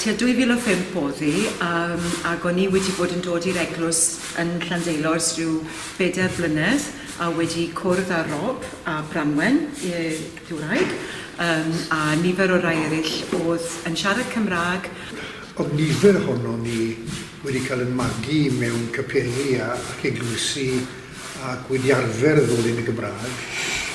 Tua 2005 o'dd hi yym ag o'n i wedi bod yn dod i'r eglws yn Llandeilo 's rhyw bedair blynedd a wedi cwrdd â Rob a Branwen yy dy wraig yym a nifer o rai eryll o'dd yn siarad Cymrâg. O'dd nifer ohonon ni wedi cael yn magu mewn capeli a ac eglwysi ac wedi arfer ddod yn y Gymrâg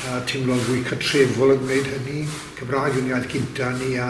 a timlo'n fwy cartrefol yn gwneud hynny. Cymrâg yw'n iaith gynta' ni a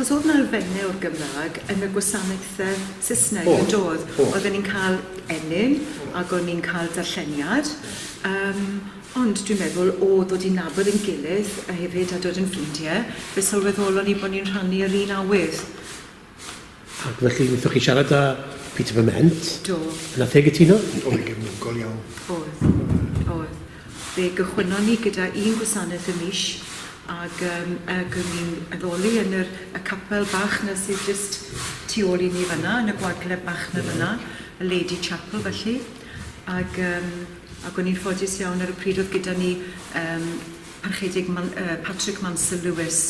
Os oedd 'na elfenne o'r Gymraeg yn y gwasanaethau Saesneg... O'dd. ...yndodd? O'dd. Oedden ni'n ca'l ennyn ag o'n ni'n ca'l darlleniad yym ond dwi'n meddwl o ddod i nabod ein gilydd a hefyd a dod yn ffrindie fe sylweddolon ni bo' ni'n rhannu yr un awydd. Ac felly, wnaethoch chi siarad â Peter Bement? Do. Yna fe gytuno? Oedd gefnogol iawn. Oedd, oedd. Fe gychwynnon ni gyda un gwasanaeth y mis, ac, um, ac o'n ni'n addoli yn yr, y capel bach na sydd jyst tu ôl i ni fanna, yn y gwagleb bach na fanna, y Lady Chapel felly. Ac, um, ac o'n ni'n ffodus iawn ar y pryd oedd gyda ni um, Parchedig Patrick Mansel Lewis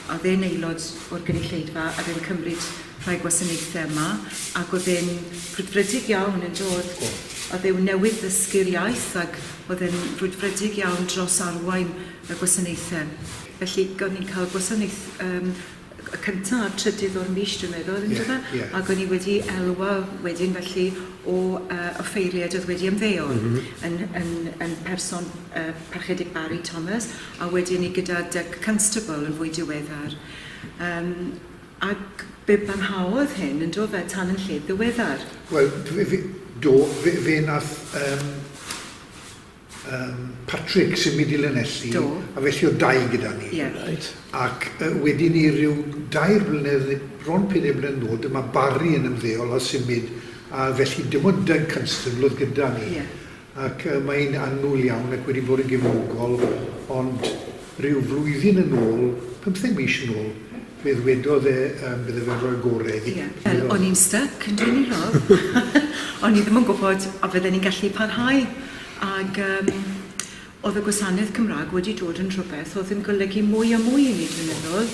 a oedd e'n aelod o'r gynulleidfa a oedd e'n cymryd rhai gwasanaethau yma ac oedd e'n frwdfrydig iawn yn dod oedd e'n newydd ddysgu'r iaith ac oedd e'n frwdfrydig iawn dros arwain y gwasanaethau felly gawn ni'n cael gwasanaeth yym y cynta' a'r trydydd o'r mis dwi'n meddwl on'd yfe? Ie ie. Ag o'n i wedi elwa wedyn felly o yy offeiriaid o'dd wedi ymddeol. M-hm. Yn yn yn person yy Parchedig Barri Thomas a wedyn 'ny gyda Doug Constable yn fwy diweddar. Yym ag be' barhaodd hyn yn do fe tan yn lled ddiweddar? Wel dwi fi do fe fe nath yym Yym, Patrick sy'n mynd i Lanelli. Do. A felly oedd dau gyda ni. Ie. Reit. Ac yy wedi 'ny ryw dair blynedd ne' bron peder blynedd yn ôl dyma Barry yn ymddeol a symud a felly dim ond Doug Constable oedd gyda ni. Ie. Ac yy mae e'n annwl iawn ac wedi bod yn gefnogol ond ryw flwyddyn yn ôl, pymtheg mis yn ôl, Fe ddwedodd e yym bydde fe'n rhoi gore iddi. Ie. Wel, o'n i'n styc yn dwyn 'i law. O'n i ddim yn gwybod a fydden ni'n gallu parhau ag yym o'dd y gwasanaeth Cymra'g wedi dod yn rhwbeth o'dd yn golygu mwy a mwy i ni dwi'n meddwl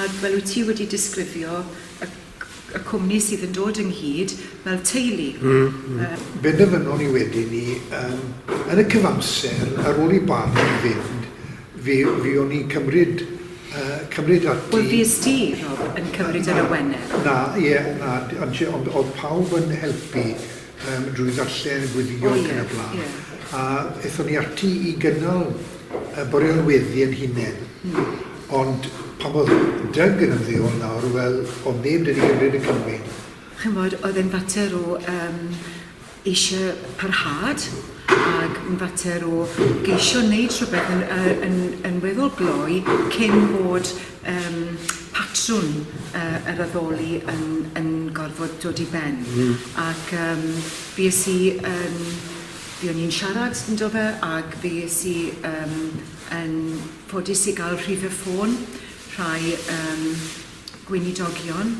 ag fel wyt ti wedi disgrifio y c- y cwmni sydd yn dod ynghyd fel teulu. Hmm hmm. Yy. Benderfynon ni wedyn 'ny yym yn y cyfamser ar ôl i Barney fynd Fu, fuon ni'n cymryd, yy, cymryd ati... Wel, fues ti, Rob, yn cymryd yr awenau. Na, ie, na, ond o'dd pawb yn helpu yym drwy ddarllen, gweddio ac yn y blaen. Ie, ie. A ethon ni ati i gynnal y bore o'r weddi ein hunen. Hmm. Ond pan o'dd Doug yn ymddeol nawr, wel, o'dd neb 'da ni gymryd y cymyn. Ch'mod, oedd e'n fater o yym eisiau parhad ac yn fater o geisio wneud rhywbeth yn, uh, yn, yn weddol gloi cyn bod um, patrwn uh, yr addoli yn, yn gorfod dod i ben. Mm. Ac um, fi es i yn... Fi o'n i'n siarad yn do fe ac fi es i um, yn ffodus i gael rhif y ffôn rhai um, gweinidogion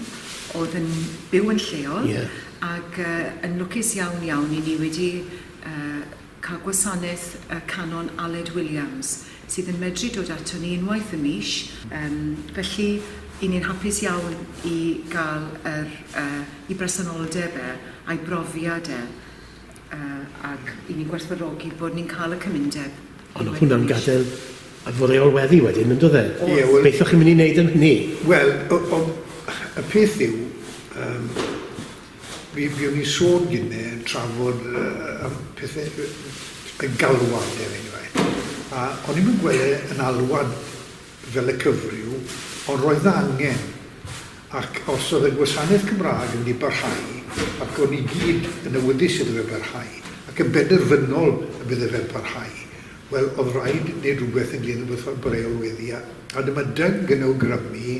oedd yn byw yn lleol ac yn lwcus iawn iawn i ni wedi cael gwasanaeth y Canon Aled Williams sydd yn medru dod ato ni unwaith y mis, felly i ni'n hapus iawn i gael yr yy i bresenoldeb e a'i brofiad e. A, ac i ni gwerthfawrogi bod ni'n cael y cymundeb... Ond oedd hwnna'n gadael ar fy reolweddi wedyn, yn doedd e? Ie, wel... Beth o'ch chi'n mynd i wneud am hynny? Wel, o- o- y peth yw, yym, mi fuon ni'n sôn gynne, trafod y y y pethe y y galwad, er enghraifft, a o'n i'm yn gweld e yn alwad fel y cyfryw, ond roedd 'na angen, ac os oedd y gwasanaeth Cymraeg yn di-barhau, ac o'n ni gyd yn awyddus iddo fe barhau, ac yn benderfynol y bydde fe'n parhau, wel, oedd raid neud rhywbeth ynglŷn â bwrdd y reolweddi, a dyma Doug yn awgrymu,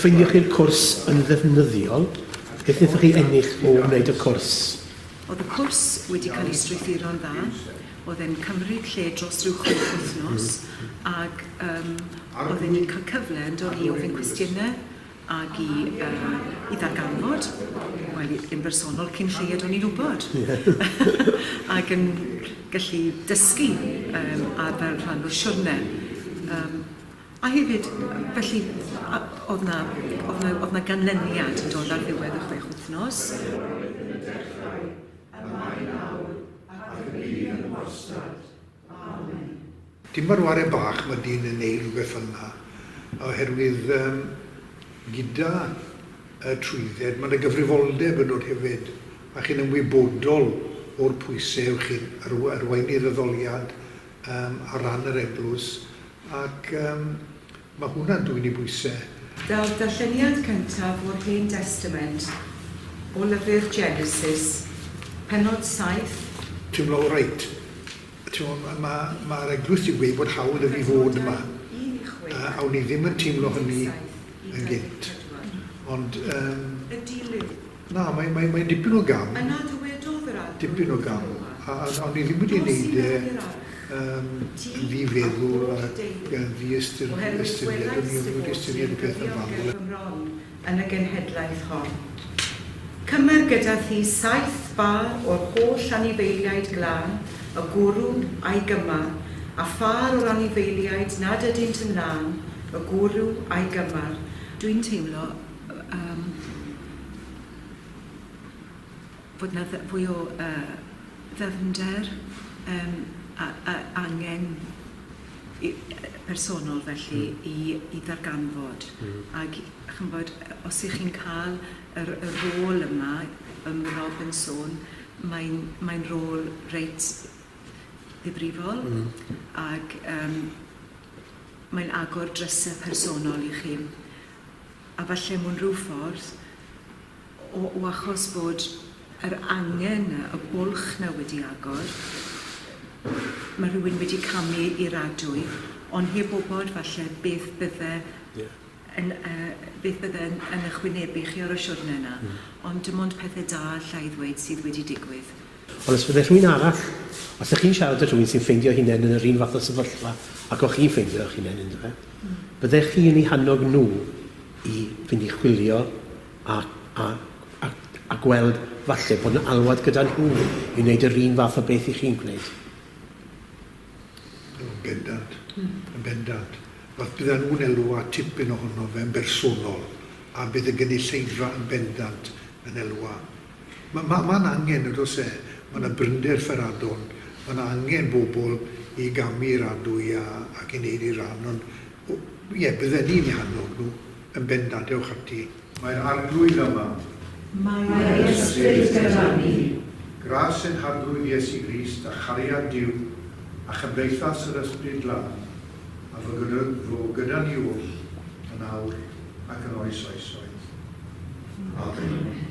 ffeindio chi'r cwrs yn ddefnyddiol, beth wnaethoch chi ennill o wneud y cwrs? Oedd y cwrs wedi cael ei strwythuro'n dda, oedd e'n cymryd lle dros rhyw chwech wythnos, ac um, oedd e'n cael cyfle yn dod i ofyn cwestiynau Ac i yy i ddarganfod, wel, i- yn bersonol cyn lleied o'n i'n wbod. Ac yn gallu dysgu yym a fel rhan o'r siwrne. Yym a hefyd felly a- o'dd 'na o'dd 'na o'dd 'na ganlyniad yn dod ar ddiwedd y chwech wthnos. Roedd yn berffaith, y mae nawr ac y bydd yn wastad. Dim ma'r ware bach ma dyn yn neu rhywbeth fel yna oherwydd yym gyda y trwydded ma na gyfrifoldeb yn dod hefyd a chi'n ymwybodol o'r pwyse yw chi'n arw- arwaini'r addoliad yym ar ran yr eglwys ac yym Mae hwnna'n dwyn i bwysau. Fel darlleniad cyntaf o'r Hen Destament, o lyfr Genesis, pennod saith. Teimlo oreit. Timod, ma', ma', ma'r eglwys 'di gweud bod hawl 'da fi fod yma, a awn i ddim yn teimlo hynny yn gynt. Ond, yym. Na, mae, mae, mae'n dipyn o gam. Yna dywedodd yr Arglwydd wrth Iona. Dipyn o gam. A, a, a o'n i ddim wedi wneud e yn ddi feddwl a yn ddi ystyr, ystyried. O'n i ddim wedi ystyried y peth yn fanwl. yn y genhedlaeth hon. Cymer gyda thi saith bar o'r holl anifeiliaid glân, y gwrw, a'i gymar, a phâr o'r anifeiliaid nad ydynt yn lân, y gwrw, a'i gymar, a dwi'n teimlo Yym bod 'na dd- fwy o yy ddyfnder yym a- a- angen i- yy personol felly i i ddarganfod ag ch'mbod os 'ych chi'n ca'l yr y rôl yma yym Rob yn sôn mae'n mae'n rôl reit ddifrifol... Hmm. ...ag yym mae'n agor dryse personol i chi a falle mewn rhyw ffordd o o achos bod yr angen 'na, y bwlch 'na wedi agor, ma' rhywun wedi camu i'r adwy on' heb wbod falle beth bydde... Ie. ...yn yy beth bydde yn yn 'ych wynebu chi ar y siwrne 'na. Hmm. Ond dim ond pethe da allai ddweud sydd wedi digwydd. Ond os byddai rhywun arall, os ydych chi'n siarad â rhywun sy'n ffeindio'i hunain yn yr un fath o sefyllfa ag o'ch chi'n ffeindio eich hunain ynddo fe, byddech chi yn eu hannog nhw i fynd i chwilio a, a, a, a gweld falle bod yna alwad gyda nhw i wneud yr un fath o beth i chi'n gwneud. Yn bendant, yn bendant. Os byddan nhw'n elw at tipyn ohono fe'n bersonol, a bydd y gynulleidfa yn bendant yn elwa Mae 'ma, mae'n angen, nag oes e? Mae 'na brinder fferadon, mae 'na angen bobl i gamu i'r adwy a, ac i wneud eu rhan, ond, o, ie, bydden ni'n eu hannog nhw, yn bendant, dewch ati. Mae'r Arglwydd yma. Mae ei ysbryd gyda ni. Gras ein Harglwydd Iesu Grist, a chariad Duw, a chymdeithas yr Ysbryd Glân, a fu gyda, fu gyda ni oll yn awr ac yn oes oesoedd. Amen.